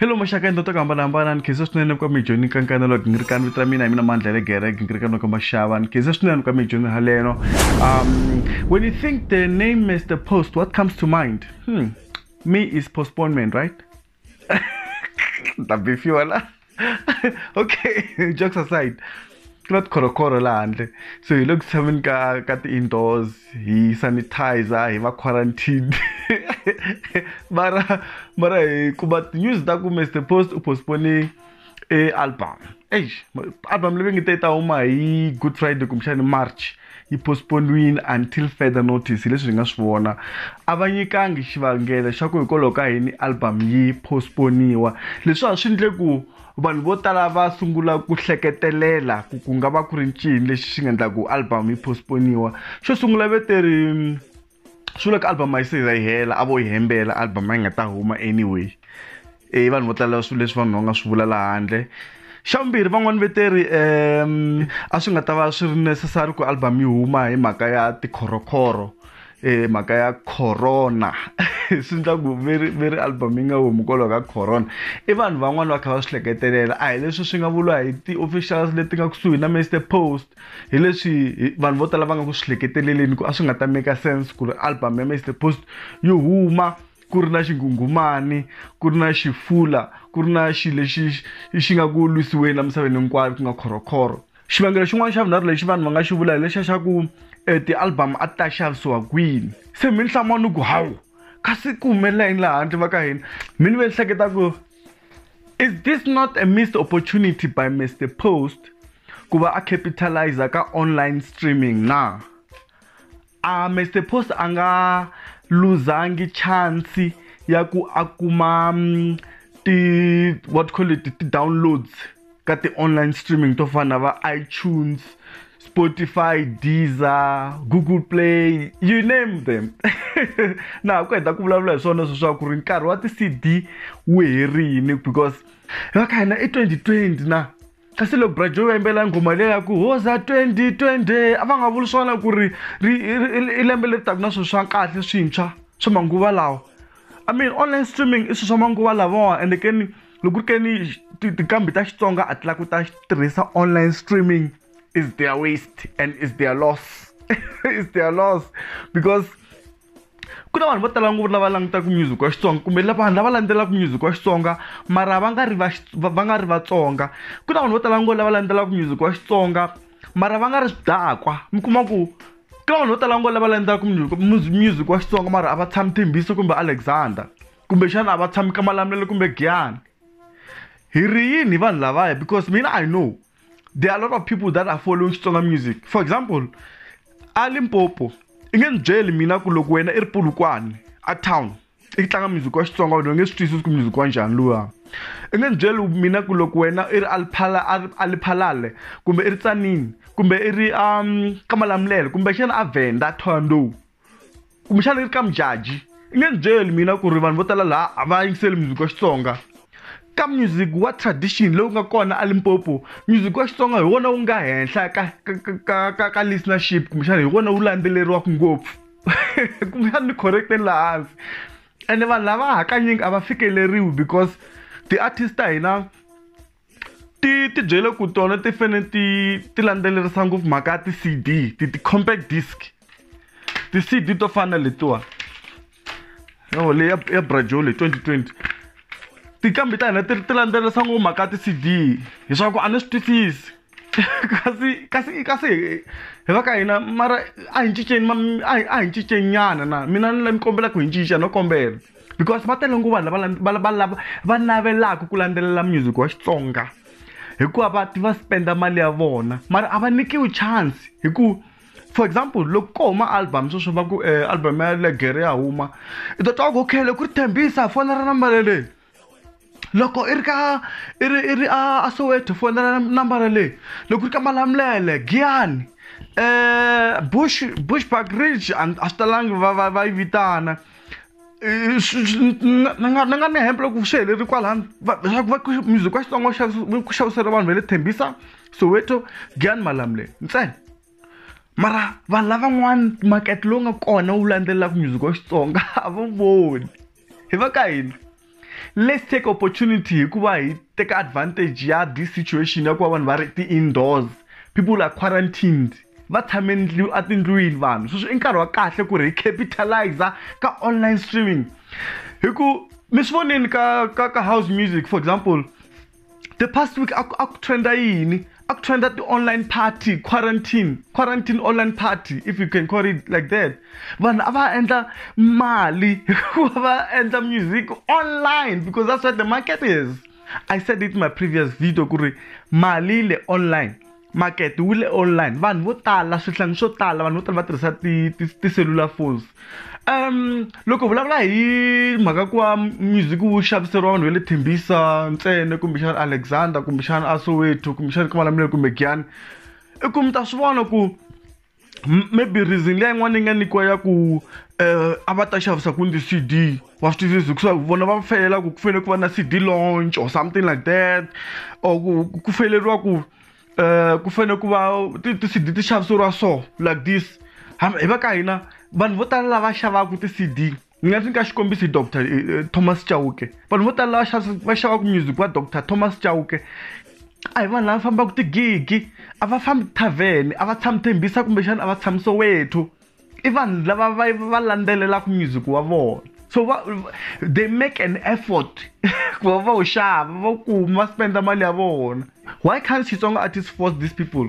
hello maxaka endla to ku hambanahambana ni khensa swinene ka mi joni kankana loko ni ri kani vito ra mina hi mina mandla le gereke ni ri kani loko maxava ni khensa swinene ka mi joni haleno um when you think the name is the post what comes to mind hmm. me is postponement right ta bifiwa la okay jokes aside ku na tikhonokhoro laha handle so hi le ku tshameni ka ka ti-indoors hi sanitizer hi va quarantine mara mara hi kuma news ta ku mr post u postpone e album eish album leyi ngi te ta huma hi good friday kumbexani march yi postponiwile until further notice leswi hi nga swi vona a va nyikangi xivangelo xa ku hikwalaho ka yini album yi postponiwa leswi a swi ndle ku vanhu vo tala va sungula ku hleketelela ku ku nga va ku ri ncini lexi xi nga endla ku album yi postponiwa xo sungula veteri swi vula ku album a yi se za yi hela a vo yi hembela album a yi nga ta huma anyway e vanhu vo tala swilo leswi vanhu va nga swi vula laha handle xa vumbirhi van'wani veteri um a swi nga ta va swi ri necessary ku album yi huma hi mhaka ya tikhorokhoro eh mhaka ya corona swi endla ku veri veri album yi nga humi hikwalaho ka corona i vanhu van'wani va kha va swi hleketelela a hi leswi swi nga vuriwa hi ti-officials leti nga kusuhi na mister post hi leswi vanhu vo tala va nga ku swi hleketeleleni ku a swi nga ta make sense ku ri album ya mr post yo huma ku ri na xinghunghumani ku ri na xifula ku ri na xi lexi xi nga ku lwisiweni emisaveni hinkwayo ku nga khorokhoro xivangelo xin'wana xa vunharhu lexi vanhu va nga xi vula hi lexa xa ku um ti-album a ti ta xavisiwa kwini se minhlama ni ku hawu kasi ku humelela yini laha handle va ka hina mina ve ni hleketa ku Is this not a missed opportunity by Mr Post ku va a capitalizer ka online streaming na? A Mr Post a nga luzangi chance ya ku a kuma mm, ti what call it ti-downloads ka ti-online streaming to fana na va itunes spotify deezer google play you name them na ha ku heta ku vulavula hi swona sweswaku ri nkarhi wa ti-cd wu herini because va ka hina i 2020 na kasi loko brajo va yimbela nghoma leyi ya ku hoza 2020 a va nga vuli swona ku ri i lembe leri taku na swilo swa kahle swintshwa swa manguva lawa i mean online streaming i swilo swa manguva lavawa ende keni loko ku ri ke ni tinqambi ta xitsonga a ti lava ku ta tirhisa online streaming is their waste and is their loss is their loss because ku na vanhu vo tala ngopfu lava langutaka music wa xitsonga kumbe vanhu lava landzelaka music wa xitsonga mara va nga ri va va nga ri vatsonga ku na vanhu vo tala ngopfu lava landzelaka music wa xitsonga mara va nga ri swidakwa mi kuma ku ku na vanhu vo tala ngopfu lava landzelaka music wa xitsonga mara a va tshami thembiso kumbe alexander kumbexana a va tshami ka malamulelo kumbe giyani hi ri yini hi vanhu lavaya because mina i know there are a lot of people that are following xitsonga music for example a limpopo i nge ni byeli mina ku loko wena i ri pulukwane a town i tlanga music wa xitsonga wena u nge swi twisisi ku music wa njhani luwa i nge ni byeli mina ku loko wena i ri aliphala aliphalale kumbe i ri tsanini kumbe i ri um ka malamulele kumbexana a venda thondo kumbexana yi ri ka mujaji i nge ni byeli mina ku ri vanhu vo tala laha a va yingiseli music wa xitsonga ka music wa tradition lowu nga kona alimpopo music wa xitsonga hi wona wu nga henhla ka ka ka ka ka listenership kumbexana hi wona wu landzeleriwaka ngopfu kumbexana ni correcteni laha hansi ene vanhu lava hakanyingi a va fikeleriwi because ti-artist ta hina ti ti byele ku tona ti fane ti ti landzelerisa ngopfu mhaka ya ti-cd ti ti-compact disc ti-cd to fana na letiwa yo leyi ya ya brajole 2020 tikambi ta hina ti ti landzelerisa ngopfu mhaka ya ti-cd leswaku a ni swi twisisi kasi kasi kasi hi va ka hina mara a hi cinceni a hi a hi cincenyana na mina ni la ni kombela ku hi cinca no kombela. because va tele ngopfu vanhu lava va lava va navelaka ku landzelela music wa xitsonga hikuva va va spenda mali ya vona mara a va nyikiwi chance hi ku for example loko ko huma album sweswo va ku eh, album ya legere ya huma i ta twa ku okay loko ri tshembisa fonela nambara leyi loko i ri ka i ri i ri a soweto fonela nambara leyi loko ri ka malamulele giyani um bush bush park ridge a swi talangi va va va yi vitana ni nga ni nga ni hemba loko swi heleli kwalano leswaku va music wa xitsonga ku xavisela vanhu va le thembisa soweto giyani malamulele ntsena mara vanhu lavan'wana makete lowu nga kona wu landzelelaka music wa xitsonga a va voni hi va ka hina let's take opportunity hikuva hi teka advantage ya this situation ya ku va vanhu va ri ti-indoors people are quarantined va tshame ndlu atindlwini vanhu sweswi i nkarhi wa kahle ku ri hi capitaliza ka online streaming hi ku mi swi voneni ka ka ka house music for example the past week a ku trenda yini a ku trenda ti-online party quarantine quarantine online party if you can call it like that vanhu a va endla mali hikuva va endla music online because that's what the market is i said it in my previous video ku ri mali le online makete wu le online vanhu vo tala swihlangi swo tala vanhu vo tala va tirhisa tiselulafoni um loko vulavula hi mhaka ku va music wu xaviseriwa vanhu va le thembisa ntsena kumbexana alexander kumbexana a soweto kumbexana ka malamulele kumbe giyani i ku mi ta swi vona ku M- maybe reason leyi yin'wana yi nga nyikiwa ya ku um a va ta xavisa kwini ti-cd wa swi twisisa hikuva vona va felela ku ku fanele ku va na cd launch or something like that or ku ku- ku feleriwa ku um ku fanele ku va ti- ti-cd ti xaviseriwa so like this Ham- hi va ka hina vanhu vo tala lava xavaka ti-cd ni nga nyika xikombiso hi dr eh, eh, thomas chauke vanhu vo tala va xavaka music wa dr thomas chauke a hi vanhu lava fambaka tigigi a va fambi tithavheni a va tshami thembisa kumbexana a va tshami sowethu i vanhu lava va va landzelelaka music wa vona so va, they make an effort ku va va wu xava va kuma va spenda mali ya vona why can't xitsonga artist force these people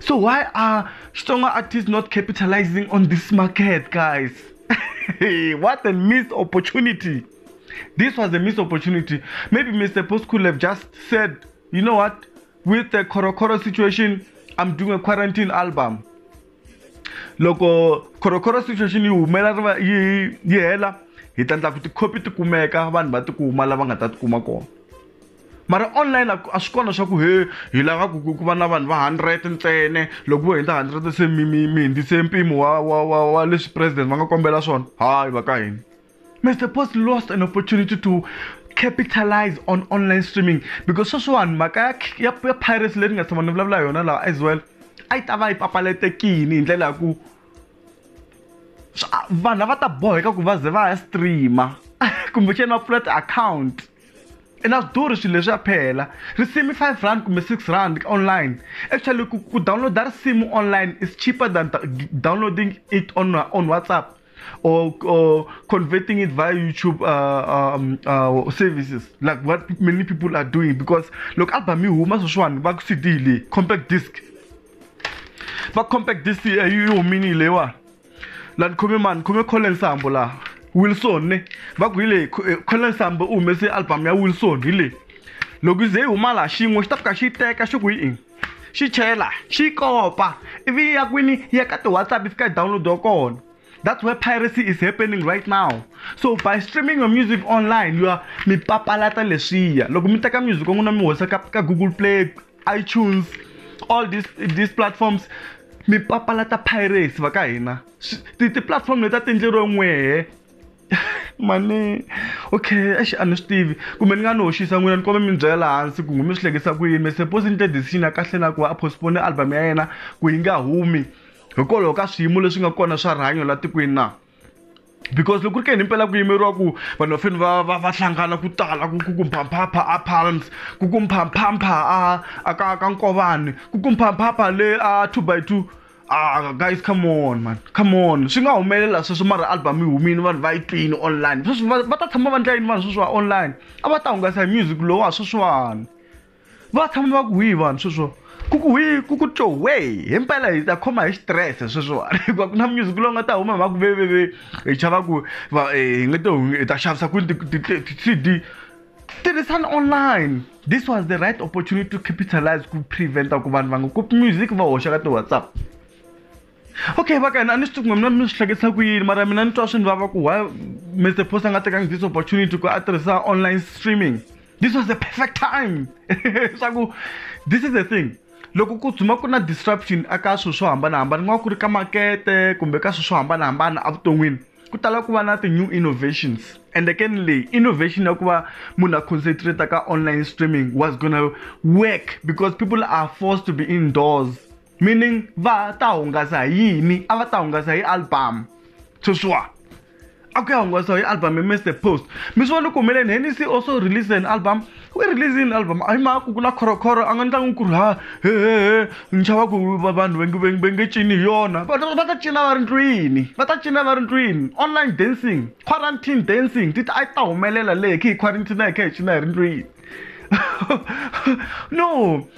So why are stronger artists not capitalizing on this market, guys? what a missed opportunity. This was a missed opportunity. Maybe Mr. Post could have just said, you know what, with the Korokoro situation, I'm doing a quarantine album. loko khorokhoro situation yi humela yi hela hi ta endla ku tikhopi ti kumeka vanhu va tikuma lava nga ta tikuma kona mara online a swi kona swa ku he hi lava ku ku va na vanhu va hundred ntsene loko vo hundza hundred se mi mi mi hundzise mpimo wa wa wa wa leswi president va nga kombela swona hayi va ka hina mr post lost an opportunity to capitalize on online streaming because sweswiwani mhaka ya ya ya piracy leyi ni nga tshama ni vulavula yona laha as well a yi ta va yi papaletekini hi ndlela ya ku vanhu a va ta boheka ku va ze va ya streama kumbexana va pfula ti-account i na switori swilo leswi ya phela risimu five rand kumbe six rand online actually ku, ku downloada risimu online is cheaper than downloading it on, on whatsapp or, or converting it via youtube uh, um, uh, services like what many people are doing because loko album yi huma sweswiwani va ku cd leyi compact disc va compact disc yi humini leyiwani la ni khome mani khome collen sambo laha wilson ne va ku hi leyi eh, collen sambo u humese album ya wilson hi leyi loko ze yi huma laha xin'we xi ta fika xi yi teka xi ku yi ini xi chela xi kopa ivi ya kwini ya ka ti-whatsapp yi fika yi downloadiwa kona that's where piracy is happening right now so by streaming your music online you are mi papalata leswiya loko mi teka music wa n'wina mi hoxa ka ka google play iTunes all these these platforms mi papalata pirates va ka hina ti-platform leti a ti endleriwe n'wehe mani okay exi a ni swi tivi kumbe ni nga ni hoxisa n'wina ni kombe mi byela hansi ku mi swi hlekisa ku yini suppose ni te decision ya kahle na ku a postpone album ya yena ku yi nga humi hikwalaho ka swiyimo leswi nga kona swa rihanyo la tikweni na because loko ku ri ke ni impela ku yimeriwa ku vanhu va feni va va va hlangana ku tala ku ku kumphamphampha a palms ku kumphamphampha a a ka ka nkovani ku kumphamphampha le a two by two ah guys come on man come on swi nga humelela sweswo mara album yi humile vanhu va yi twini online sweswi va ta tshama va ndla yini vanhu sweswiwa online a va ta hungasa hi music lowa sweswiwani va tshama va ku hwihi vanhu sweswo ku ku hwi ku ku tyo wei himpela hi ta khoma hi xitirese sweswiwani hikuva ku na music lowu nga ta huma hi va ku veveve hi chava ku va hi nge to hi ta xavisa kwini ti-cd tirhisani online this was the right opportunity to capitalize ku preventa ku vanhu va nga kopi music va hoxa ka ti-whatsapp okay va kana a ni swi tivi kumbe mina mi swi hlekisa ku yini mara mina ni twa swi ni vava ku why mr post a nga tekangi this opportunity ku a tirhisa online streaming this was the perfect time swa ku this is the thing loko ku tshuma ku na disruption aka swilo swo hambanahambana ku nga ku ri ka makete kumbe ka swilo swo hambanahambana evuton'wini ku tala ku va na ti-new innovations ende ke ni leyi innovation ya ku va munhu a concentrate ka online streaming was gonna work because people are forced to be indoors meaning va ta hungasa hi yini a va ta hungasa hi album sweswiwa a ku ya hungasa hi album hi mr post mi swi vona ku humeleni henisi also release an album we release an album a hi mhaka ku ku na khorokhoro a nga ni tlangi ku ri ha hehehe ni chava ku vanhu va nge cini hi yona va ta cina va ri ndlwini va ta cina va ri ndlwini online dancing quarantine dancing ti a yi ta humelela leyi khe hi quarantine a hi khe hi cina hi ri ndlwini no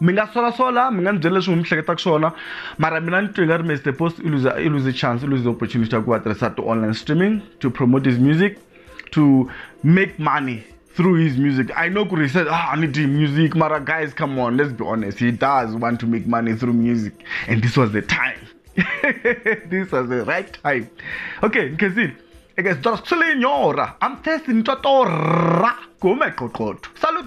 mi nga solasola mi nga ni byela leswi n'wi mi hleketaka swona mara mina ni twi nga ri mi the post i lose i lose chance i lose the opportunity ya ku va tirhisa ti-online streaming to promote his music to make money through his music i know kuri he said ah ni dyi music mara guys come on let's be honest he does want to make money through music and this was the time this was the right time okay nkhezile eke swi tora swi lenyora i'm thirsty ni twa torra ku huma hi qoqotho salut